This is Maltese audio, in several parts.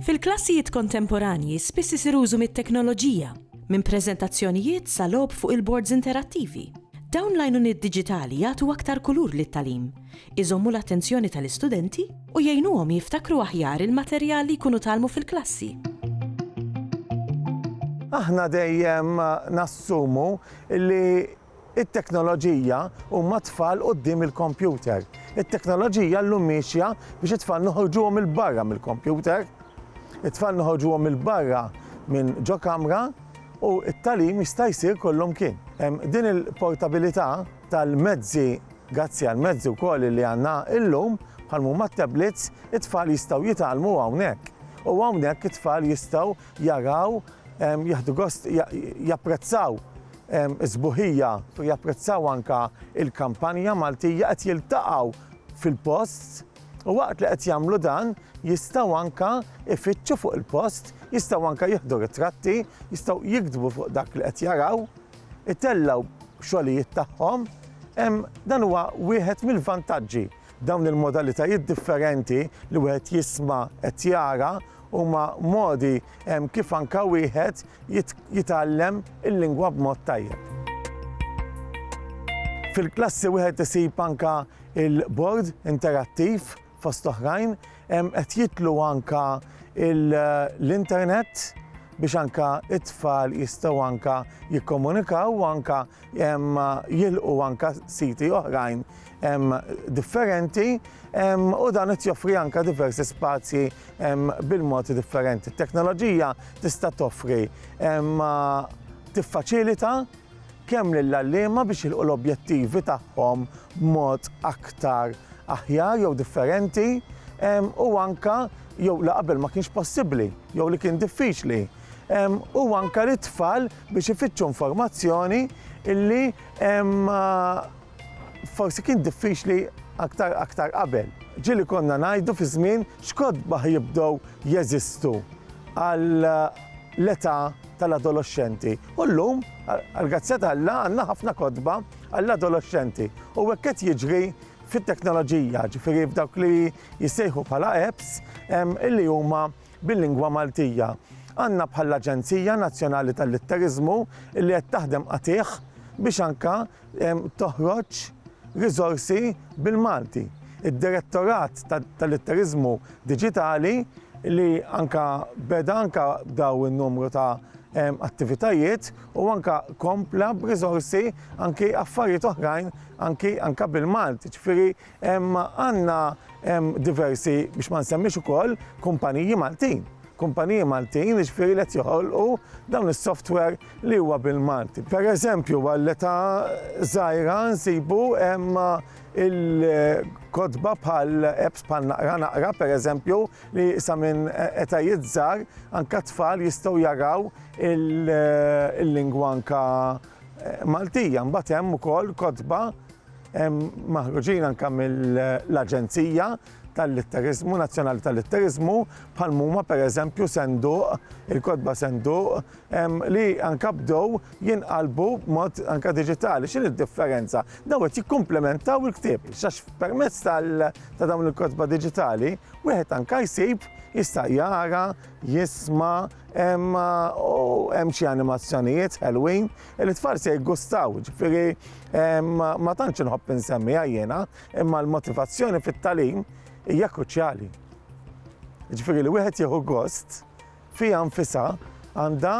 Fil-klassijiet kontemporanji spiss isir użu mit-teknoloġija, minn preżentazzjonijiet sa logħob fuq il-bords interattivi. Dawn l-għajnuniet diġitali jagħtu aktar kulur lit-tagħlim, iżommu l-attenzjoni tal-istudenti u jgħinuhom jiftakru aħjar il-materjal li jkunu tgħallmu fil-klassi. Aħna dejjem nassumu li t-teknoloġija huma t-tfal quddiem il-kompjuter. It-teknoloġija llum miexja biex it-tfal noħorġuhom 'il barra mill-kompjuter. It-tfal noħorġuhom 'il barra minn ġo kamra u t-tagħlim jista' jsir kollhom kien. Din il-portabilità tal-mezzi Gazzi għall-mezzi wkoll li għandna illum bħal mhuma t-tablets, it-tfal jistgħu jitgħallmu hawnhekk. U hawnhekk it-tfal jistgħu jaraw jieħdu gost japprezzaw is-sbuħija u japprezzaw anka il-kampanja Maltija qed jiltaqgħu fil-post u waqt li qed jagħmlu dan jistgħu anka ifittxu fuq il-post, jistgħu anka jieħdu ritratti, jistgħu jiktbu fuq dak li qed jaraw. itellgħu xogħlijiet tagħhom, dan huwa wieħed mill-vantaġġi. Dawn il-modalitajiet differenti li wieħed jisma' qed jara huma modi kif anke wieħed jitgħallem il-lingwa b'mod tajjeb. Fil-klassi wieħed isib anke l-bord interattiv Fost l-oħrajn, qed jidħlu anke l-internet biex anke t-tfal jistgħu anke jikkomunikaw u anke jilħqu anke siti oħrajn differenti u dan qed joffri anke diversi spazji bil-mod differenti. It-teknoloġija tista' toffri, tiffaċilita, kemm lill-għalliema biex jilħqu l-objettivi tagħhom b'mod aktar aħjar jew differenti u anke jew li qabel ma kienx possibbli jew li kien diffiċli u anke lit-tfal biex ifittxu informazzjoni illi Forsi kien diffiċli aktar aktar qabel. Ġieli konna ngħidu fi żmien x'kotbaħ jibdew jeżistu għal l-età tal-adoloxxenti. U llum, għall-grazzja t'Alla, għandna ħafna kotba għall-adoloxxenti. U hekk qed jiġri fit-teknoloġija, ġifieri f'dawk li jissejħu bħala apps illi huma bil-lingwa Maltija. Għandna bħall-Aġenzija Nazzjonali tal-Litteriżmu illi qed taħdem qatigħ biex anke toħroġ riżorsi bil-Malti. Id-Direttorat tal-Litteriżmu Diġitali li anke beda anke b'daw in-numru ta' attivitajiet u anke kompla b'riżorsi anke affarijiet oħrajn anke anke bil-Malti, ġifieri Għandna diversi, biex ma nsemmix ukoll, kumpaniji Maltin. Kumpaniji Maltin jiġifieri li qed joħolqu dawn is-software li huwa bil-Malti. Pereżempju għall-età żgħira nsibu il-kotba bħal apps bħal Naqra Naqra pereżempju li sa minn etajiet żgħar anke t-tfal jistgħu jaraw il-lingwa anke Maltija. Mbagħad hemm ukoll kotba maħruġin anke mill-Aġenzija tal-Litteriżmu, Nazzjonali tal-Litteriżmu, bħal huma pereżempju senduq, il-kotba senduq, li anke bdew jinqalbu b'mod anke diġitali. X'inhi d-differenza? Dawn qed jikkumplementaw il-ktieb, għax permezz ta' dawn il-kotba diġitali wieħed anke jsib jista' jara, jisma' hemm xi animazzjonijiet ħelwin. L-itfal se jiggustaw, ġifieri ma tantx inħobb insemmiha jiena, imma l-motivazzjoni fit-tagħlim hija kruċjali. Ġifieri li wieħed jieħu gost fiha nfisha għandha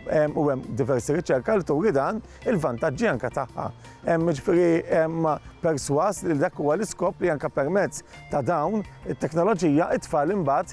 u hemm diversi riċerka li turi dan il-vantaġġi anke tagħha. Hemm ġifieri perswas li dak huwa l-iskop li anke permezz ta' dawn it-teknoloġija it-tfal imbagħad